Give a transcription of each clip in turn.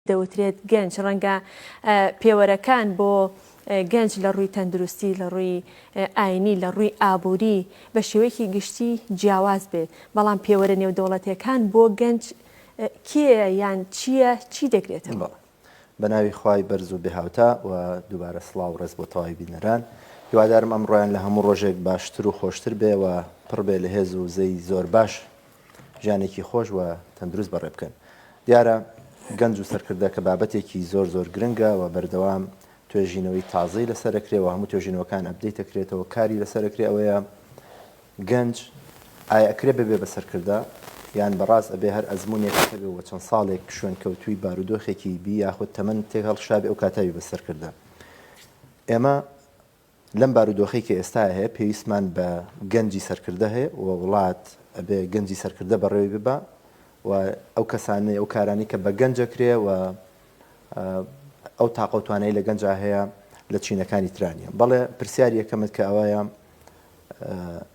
دەوترێت گەنج ڕەنگە پێوەرەکان بۆ گەنج لە ڕووی تەندروستی، لە ڕووی ئاینی، لە ڕووی ئابووری بە شێوەیەکی گشتی جیاواز بێت، بەڵام پێوەرە نێودەوڵەتییەکان بۆ گەنج کێیە یان چییە، چی دەگرێتەوە؟ بە ناوی خوای بەرز و بێهاوتا و دووبارە سڵاو و ڕێز بۆ تەواوی بینەران. هیوادارم ئەمڕۆیان لە هەموو ڕۆژێک باشتر و خۆشتر بێ و پڕ بێ لە هێز و وزەی زۆر باش. ژیانێکی خۆش و تەندروست بەڕێ بکەن. دیارە گەنج و سەرکردە کە بابەتێکی زۆر زۆر گرنگە و بەردەوام توێژینەوەی تازەی لەسەر ئەکرێ و هەموو توێژینەوەکان ئەپدەیت ئەکرێتەوە کاری لەسەر ئەکرێ ئەوەیە گەنج ئایا ئەکرێ ببێ بە سەرکردە یان بەڕاست ئەبێ هەر ئەزمونێک هەبێ و چەند ساڵێک شوێنکەوتووی بارودۆخێکی بی یاخود تەمەن تێک هەڵکشابێ ئەو کاتاوی بە سەرکردە ئێمە لەم بارودۆخەی کە ئێستا هەیە پێویستمان بە گەنجی سەرکردە هەیە و وڵات ئەبێ گەنجی سەرکردە بەڕێوەی ببا و ئەو کەسانەی ئەو کارانەی کە بە گەنج ئەکرێ و ئەو تاقە و توانایی لە گەنجا هەیە لە چینەکانی ترا نییە بەڵێ پرسیاری یەکەمت کە ئەوەیە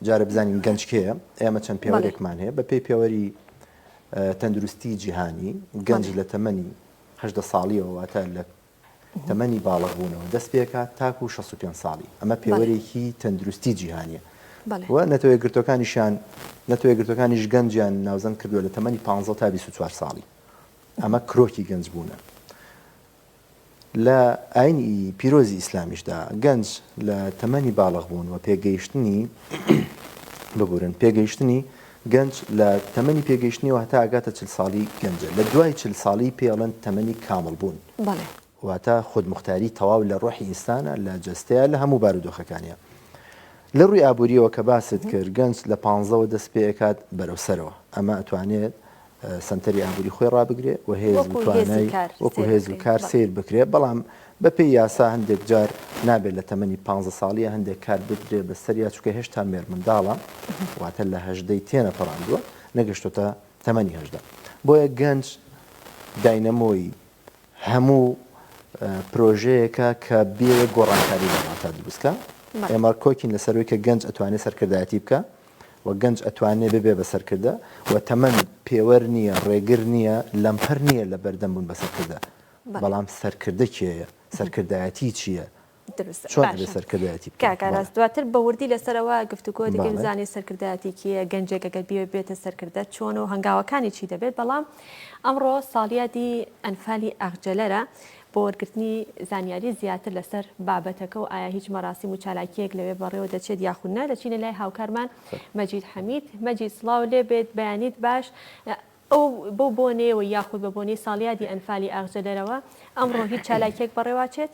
جارە بزانین گەنج کێیە ئێمە چەند پێوەرێکمان هەیە بە پێی پێوەری تەندروستی جیهانی گەنج لە تەمەنی هەشدە ساڵیەوە واتە لە تەمەنی باڵغبوونەوە دەست پێکات تاکوو شەست و پێنج ساڵی، ئەمە پێوەرێکی تەندروستی جیهانییە و نەتەوە یەکگرتووەکانیشیان نەتەوە یەکگرتووەکانیش گەنجیان ناوزەند کردووە لە تەمەنی پانزە تا بیست و چوار ساڵی، ئەمە کرۆکی گەنجبوونە. لە ئایینی پیرۆزی ئیسلامیشدا گەنج لە تەمەنی باڵغبوون و پێگەیشتنی ببورن پێگەیشتنی گەنج لە تەمەنی پێگەیشتنیەوە هەتا ئەگاتە چل ساڵی گەنجە، لە دوای چل ساڵی پێی ئەڵێن تەمەنی کامڵ بوون. بەڵێ. واتە خودموختاری تەواو لە ڕۆحی ئینسانە، لە جەستەیە، لە هەموو بارودۆخەکانیا. لە ڕووی ئابووریەوە کە باست کرد گەنج لە پانزەوە دەست پێ ئەکات بەرەو سەرەوە، ئەمە ئەتوانێت سەنتەری ئابووری خۆی ڕابگرێ و هێز و توانای وەکو هێز و کار سەیر بکرێ، بەڵام بەپێی یاسا هەندێک جار نابێ لە تەمەنی پانزە ساڵییە هەندێک کار بدرێ بە سەریا چونکە هێشتا مێرمنداڵە واتە لە هەژدەی تێنەپەڕاندووە نەگەشتۆتە تەمەنی هەژدە بۆیە گەنج داینەمۆی هەموو پرۆژەیەکە کە بێ گۆڕانکاری لە وڵاتە دروستکە ئێمە کۆکین لەسەروی کە گەنج ئەتوانێت سەرکردایەتی بکە و گەنج ئەتوانێ ببێ بە سەرکردە و تەمەن پێوەر نییە ڕێگر نییە لەمپەر نییە لە بەردەم بوون بە سەرکردە بەڵام سەرکردە کێیە سەرکردایەتی چییە کاکاراست دواتر بە وردی لەسەرەوە گفتوگۆ دەکەین زانانی سەرکردایەتیکیە گەنجێکە گەر بێ بێتە سەرکردە چۆن و هەنگاوەکانی چی دەبێت بەڵام ئەمڕۆ ساڵیادی ئەنفالی ئەخجلەرە بۆ وەرگرتنی زانیاری زیاتر لەسەر بابەتەکە و ئایا هیچ مەراسیم و چالاکییەک لەوێ بەڕێوە دەچێت یاخود نا، دەچینە لای هاوکارمان مەجید حەمید. مەجید سڵاو لێ بێت، بەیانیت باش. ئەو بەو بۆنەیەوە یاخود بە بۆنەی ساڵیادی ئەنفالی ئاغجەدەرەوە ئەمڕۆ هیچ چالاکییەک بەڕێواچێت؟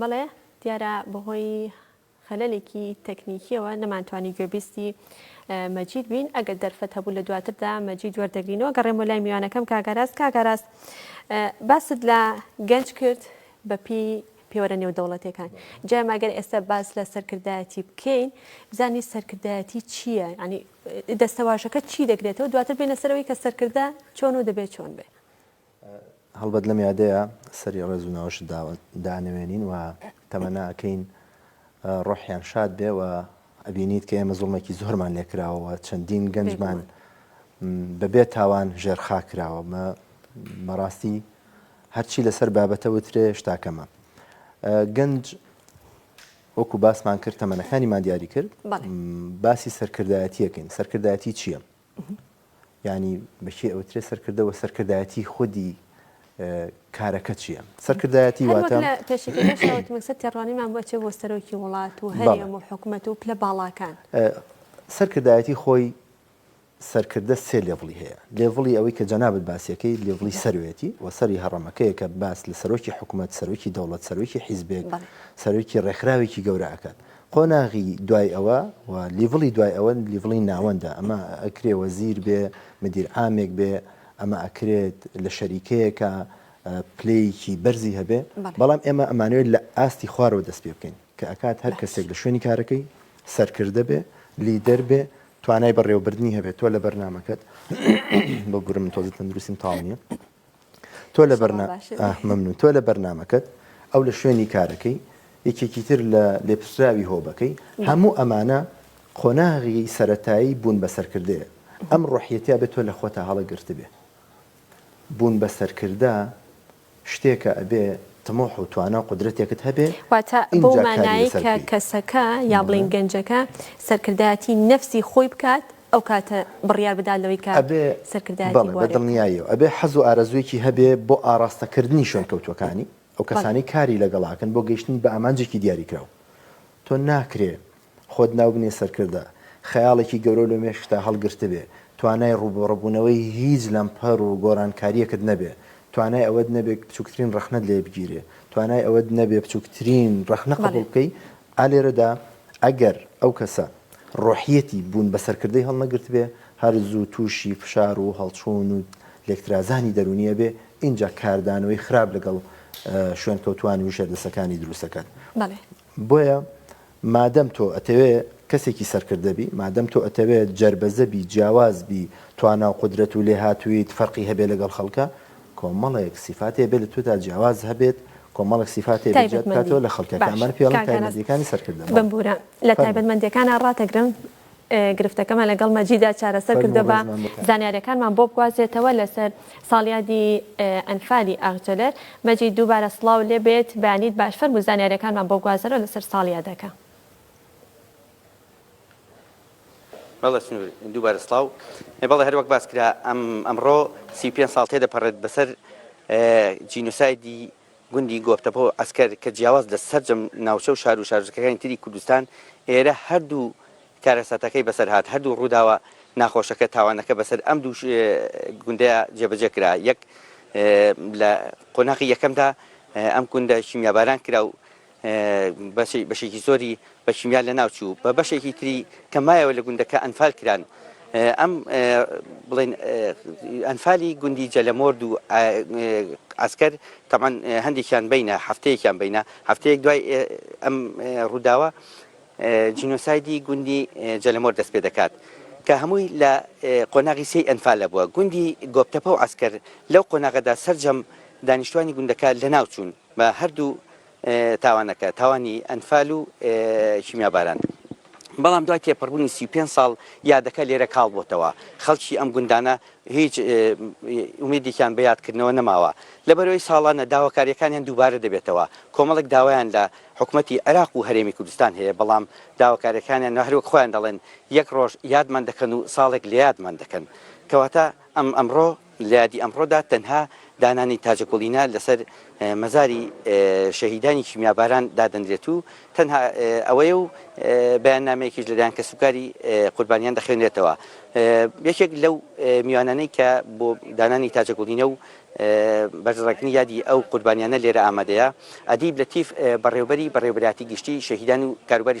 بەڵێ دیارە بەهۆی خەلەلێکی تەکنیکیەوە نەمانتوانی گوێبیستی مەجید بین ئەگەر دەرفەت هەبوو لە دواتردا مەجید وەردەگرینەوە گەڕێمە لای میوانەکەم کاگاراست کاگاراست باست لە گەنج کرد بەپی پێوەرە نێودەوڵەتەکان جای ماگەر ئێستا باس لە سەرکردایەتی بکەین بزانین سەرکردایەتی چییە ینی دەستەواژەکە چی دەگرێتەوە دواتر بینە سەرەوەی کە سەرکردە چۆن و دەبێت چۆن بێ هەڵبەت لەم یادەیا سەری ڕێز و ناوەشت داوە دانەوێنین و تەمەنا ئەکەین ڕۆحیان شاد بێ و ئەبینیت کە ئێمە زوڵمێکی زۆرمان لێ کراوە و چەندین گەنجمان بە بێ تاوان ژێر خاک کراوە مە بەڕاستی هەرچی لەسەر بابەتە وترێ شتا کەمە گەنج وەکو باسمان کرد تەمەنەکانیمان دیاری کرد باسی سەرکردایەتیەکەین سەرکردایەتی چییە؟ یانی بە کێ ئەوترێ سەرکردە وە سەرکردایەتی خودی کارەکە چییە سەرکردایەتی واتە تێڕوانیمان بۆ چێ بۆ سەرۆکی وڵات و هەرێم و حکوومەت و پلە باڵاکان سەرکردایەتی خۆی سەرکردە سێ لێڤڵی هەیە لێڤڵی ئەوەی کە جەنابەت باسیەکەی لێڤڵی سەروێتی و سەری هەڕەمەکەیە کە باس لە سەرۆکی حکوومەت سەرۆکی دەوڵەت سەرۆکی حیزبێک سەرۆکی ڕێکخراوێکی گەورەکات قۆناغی دوای ئەوە و لیڤڵی دوای ئەوە لیڤڵی ناوەندە ئەمە ئەکرێ وەزیر بێ مدیر عامێک بێ ئەمە ئەکرێت لە شەریکەیەکا پلەیەکی بەرزی هەبێ بەڵام ئێمە ئەمانەوێت لە ئاستی خوارەوە دەست پێ بکەین کە ئەکات هەر کەسێک لە شوێنی کارەکەی سەرکردە بێ لیدەر بێ توانای بەڕێوەبردنی هەبێت تۆ لە بەرنامەکەت ببورە من تۆزە تەندروستیم تاڵ نیە سڵاو باشە بێت. مەمنون تۆ لە بەرنامەکەت ئەو لە شوێنی کارەکەی یەکێکی تر لە لێپرسراوی هۆبەکەی هەموو ئەمانە قۆناغی سەرەتایی بوون بە سەرکردەیە ئەم ڕۆحیەتە ئەبێ تۆ لە خۆتا هەڵە گرتبێ بوون بە سەرکردە شتێکە ئەبێ تموح و توانا و قودرەتێکت هەبێ واتە بەو مانایەی کە کەسەکە یا بڵێین گەنجەکە سەرکردایەتی نەفسی خۆی بکات، ئەو کاتە بڕیار بدات لەوەی کە ئەبێ سەرکردایەتی بەڵێ بە بوارێ بکات. دڵنیاییەوە ئەبێ حەز و ئارەزوویەکی هەبێ بۆ ئاڕاستەکردنی شوێنکەوتووەکانی، ئەو بەڵێ. کەسانەی کاری لەگەڵاکەن بۆ گەیشتنی بە ئامانجێکی دیاریکراو. تۆ ناکرێ خۆت ناو بنێی سەرکردە، خەیاڵێکی گەورەو لە مێشکتا هەڵگرتبێ، توانای ڕووبەڕووبوونەوەی هیچ لەمپەر و گۆڕانکارییەکت نەبێ، توانای ئەوەت نەبێ بچووکترین ڕەخنەت لێ بگیرێ، توانای ئەوەت نەبێ بچووکترین ڕەخنە بەڵێ. قبووڵ بکەی، ئا لێرەدا ئەگەر ئەو کەسە ڕۆحیەتی بوون بە سەرکردەی هەڵنەگرتبێ، هەر زوو تووشی فشار و هەڵچوون و لێکترازانی دەروونی ئەبێ، ئینجا کاردانەوەی خراپ لەگەڵ شوێنکەوتووانی و ژێردەستەکانی دروست ئەکات. بۆیە مادەم تۆ ئەتەوێ کەسێکی سەرکردە بی، مادەم تۆ ئەتەوێ جەربەزە بی، جیاواز بی، توانا و قودرەت و لێهاتووییت فەرقی هەبێ لەگەڵ خەڵکا، کۆمەڵێک سیفاتی هەبێت لە تۆدا جیاواز هەبێت، کۆمەڵێک سیفاتی هەبێت جیات تایبەتمەندی بکاتەوە لە خەڵکە کە باشە ئەمانە پێڵن کاک ئاراس تایبەندیەکانی سەرکردە بەڵێ ببورە لە فەرموو تایبەتمەندیەکانا ڕاتەگرم ئێ گرفتەکەمان لەگەڵ مەجیدا چارەسەر فەرموو کردە با ڕێزمان بۆ کاک. زانیاریەکانمان بۆ بگوازرێتەوە لەسەر ساڵیادی ئێ ئەنفالی ئاغجەلەر مەجید دووبارە سڵاو لێبێت بەیانیت باش فەرموو زانیاریەکانمان بۆ بگوازەرەوە لەسەر ساڵیادەکە. مەلا سنوور، دووبارە سڵاو. بەڵێ هەر وەک باس کرا ئەم ئەمڕۆ سی و پێنج ساڵ تێدەپەڕێت بەسەر جینۆسایدی گوندی گۆپتەپە و عەسکەر کە جیاواز لە سەرجەم ناوچە و شار و شارۆچکەکانی تری کوردستان ئێرە هەردوو کارەساتەکەی بەسەر هات هەردوو ڕووداوە ناخۆشەکە تاوانەکە بەسەر ئەم دوو گوندەیا جێبەجێ کرا یەک لە قۆناغی یەکەمدا ئەم گوندە کیمیاباران کرا و بەشێکی زۆری بە کیمیا لەناوچوو، بە بەشێکی تری کە مایەوە لە گوندەکە ئەنفال کران. ئەم بڵێن ئەنفالی گوندی جەلەمۆرد و عسکەر تەبعەن هەندێکیان بینە هەفتەیەکیان بینە هەفتەیەک دوای ئەم ڕووداوە جینۆسایدی گوندی جەلەمۆر دەست پێ دەکات. کە هەمووی لە قۆناغی سێی ئەنفالە بووە گوندی گۆپتەپە و عسکەر لەو قۆناغەدا سەرجەم دانیشتوانی گوندەکە لەناوچوون بە هەردوو تاوانەکە، تاوانی ئەنفال و کیمیاباران. بەڵام دوای تێپەڕبوونی سی و پێنج ساڵ یادەکە لێرە کاڵ بۆتەوە، خەڵکی ئەم گوندانە هیچ ئومێدێکیان بە یادکردنەوە نەماوە، لەبەرئەوەی ساڵانە داواکارییەکانیان دووبارە دەبێتەوە، کۆمەڵێک داوایان لە حکومەتی عێراق و هەرێمی کوردستان هەیە، بەڵام داواکارییەکانیان هەر وەک خۆیان دەڵێن، یەک ڕۆژ یادمان دەکەن و ساڵێک لەیادمان دەکەن، کەواتە ئەم ئەمڕۆ. لە یادی ئەمڕۆدا تەنها دانانی تاجەکوڵینە لەسەر مەزاری شەهیدانی کیمیاباران دادەنرێت و تەنها ئەوەیە و بەیاننامەیەکیش لەلایەن کەسوکاری قوربانیان دەخوێنرێتەوە. یەکێک لەو میوانانەی کە بۆ دانانی تاجەکوڵینە و بەرزڕاگرتنی یادی ئەو قوربانیانە لێرە ئامادەیە، ئەدیب لەتیف بەڕێوەبەری بەڕێوەبەرایەتی گشتیی شەهیدان و کاروباری